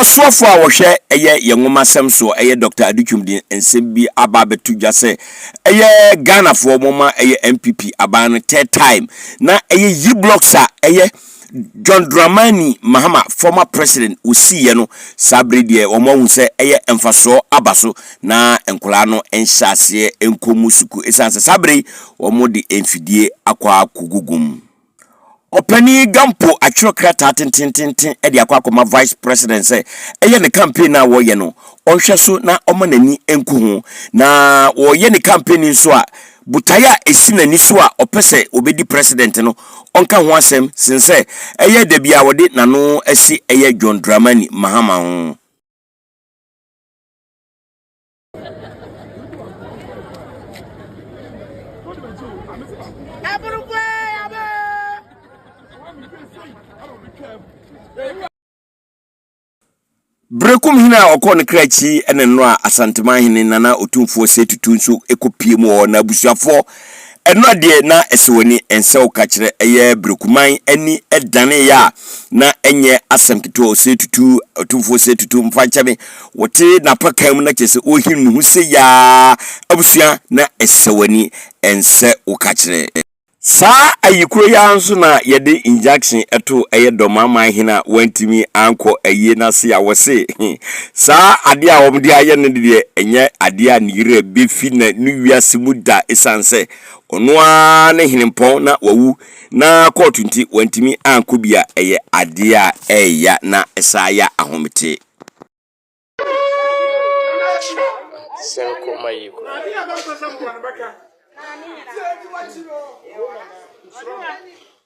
Ɔsoafo a wɔhwɛ ɛyɛ yɛ nwomasɛm so ɛyɛ Dɔkta Adutwum de nsɛm bi aba abɛto dwa sɛ ɛyɛ Ghanafoɔ wɔma ɛyɛ NPP aban no third time na ɛyɛ Yblocks a ɛyɛ John Dramani Mahama former president wɔsiiɛ no saa bere deɛ wɔn ahu sɛ ɛyɛ mfasoɔ aba so na nkwadaa no nhyɛ aseɛ nkɔ mu sukuu ɛsiane sɛ saa bere yi wɔn de mfidie akɔ akɔgugu mu. Ɔpanin Gampo atwerɛ krataa tentenenten de akɔ akɔma Vice President sɛ ɛyɛ ne campaign a wɔyɛ no ɔnhwɛ so na ɔma n'ani nku ho. Na wɔyɛ ne campaign nso a, botae a ɛsi n'ani so a ɔpɛ sɛ ɔbɛdi President no, ɔnka ho asɛm sen sɛ ɛyɛ da bi a ɔde n'ano asi ɛyɛ John Dramani Mahama ho. Berekum hene a ɔkɔɔ ne kra akyi ne nnora Asanteman hene Nana Otumfoɔ Sei Tutu nso kɔpie mu wɔ hɔ na abusuafoɔ Ɛno adeɛ na ɛsɛ w'ani ɛnsɛ wo ka kyerɛ ɛyɛ brekuman ani ɛdanee yɛ a na ɛnyɛ asɛm ketewa ɔsɛ tutu ɔtumfoɔ sɛ tutu mfa nkyɛ me wote napa kan mu na kyerɛ sɛ ɔhim ne ho sɛ yaa abusua na ɛsɛ w'ani ɛnsɛ wo ka kyerɛ Saa ayikuro yi ara nso na yɛde injunction ɛtoo ɛyɛ dɔmaman hene a wantumi ankɔ ayie no ase a wɔse Saa adeɛ a wɔde ayɛ no deɛ, ɛnyɛ adeɛ a ne werɛ bɛfi na ne wiase mu da ɛsiane sɛ ɔno ara ne henempɔn na wawu na kɔɔto nti wantumi ankɔ bi a, ɛyɛ adeɛ a ɛreya na ɛsan ya ahomete.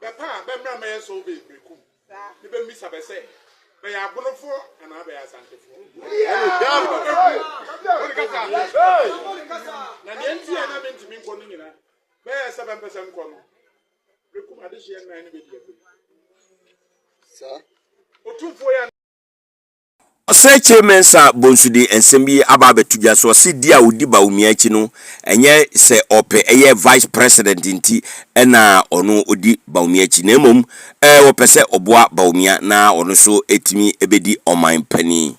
Bɛpɛ a, bɛmmra mmɛyɛ survey Berekum ne bɛmmisa bɛ sɛ, bɛyɛ Abonofoɔ anaa bɛyɛ Asantefoɔ. Na deɛ nti a na mentumi nkɔ no nyina, bɛyɛɛ sɛ bɛmpɛ sɛ nkɔ no. Berekum adehyeɛ nnan ne bɛdi akwam. Otumfoɔ yi a na. Ɔsɛekyee Mensah Bonsu de nsɛm bi aba abɛto dwa. So ɔse di a odi Bawumia akyi no ɛnyɛ sɛ ɔpɛ ɛyɛ Vice President nti na ɔno odi Bawumia akyi na mmom ɔpɛ sɛ ɔboa Bawumia na ɔno nso atumi abɛdi ɔman panin.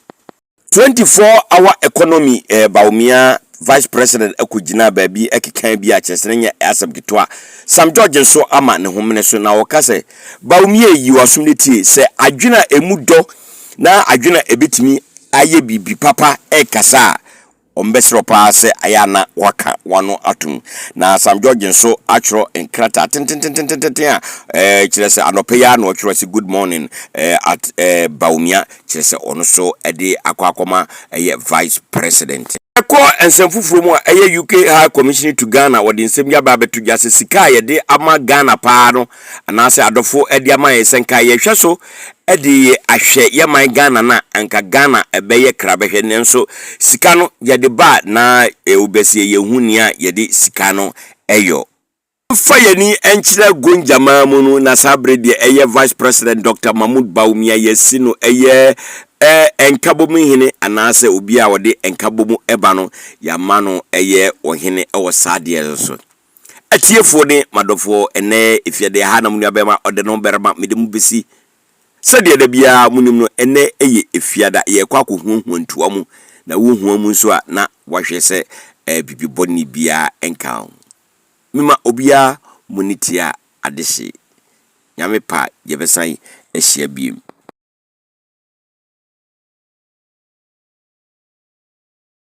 24 hour economy Bawumia Vice President kɔ gyinaa baabi kekaa bi a kyerɛ sɛ na nyɛ asɛm ketewa. Sam George nso ama ne ho mene so na ɔka sɛ, Bawumia yi w'asom no tie, sɛ adwene a ɛmu dɔ, na adwene a ebetumi ayɛ biribi papa rekasa a, wɔbɛserew paa sɛ ayɛ a na wɔaka wɔn ano atom. Na Sam George nso atwerɛ nkrataa tententententen a ɛɛ kyerɛ sɛ anɔpa yi ara na ɔtwerɛ sɛ good morning ɛɛ at ɛɛ Bawumia kyerɛ sɛ ɔno nso de akɔ akɔma ɛyɛ vice president. Ɛkɔ nsɛm foforɔ mu a, ɛyɛ UK High Commissioner to Ghana wɔde nsɛm yi aba abɛto dwa sɛ sika a yɛde ama Ghana paa no, anaasɛ adɔfo de ama yɛn sɛ nka yɛhwɛ so de ahwɛ yɛ man Ghana no a, anka Ghana ɛbɛyɛ kra bɛhwɛ. Nanso sika no yɛde ba a na wobɛseɛ yɛnhu nea yɛde sika no yɔ. Yɛmfa yɛn ani nkyerɛ Gonjamaa mu no, na saa bere deɛ ɛyɛ Vice President Doctor Mahmoud Bawumia yɛasi no ɛyɛ ɛ Nkabom hene anaasɛ obi a ɔde Nkabom ba no yɛama no ɛyɛ ɔhene wɔ saa adeɛ no so. Atiefoɔ ne m'adɔfoɔ, ɛnnɛ efiadeɛ ha na mo nuabarima ɔde no barima mede mo besi. Sɛdeɛ da biara monim no, ɛnnɛ yɛ efiada, yɛrekɔ akɔhuahua ntua mu, na wohua mu nso a, na woahwɛ sɛ bibi bɔne biara nka ho. Mema obiara moni tia adehye. Nyame pɛ a yɛbɛsan ahyia biom.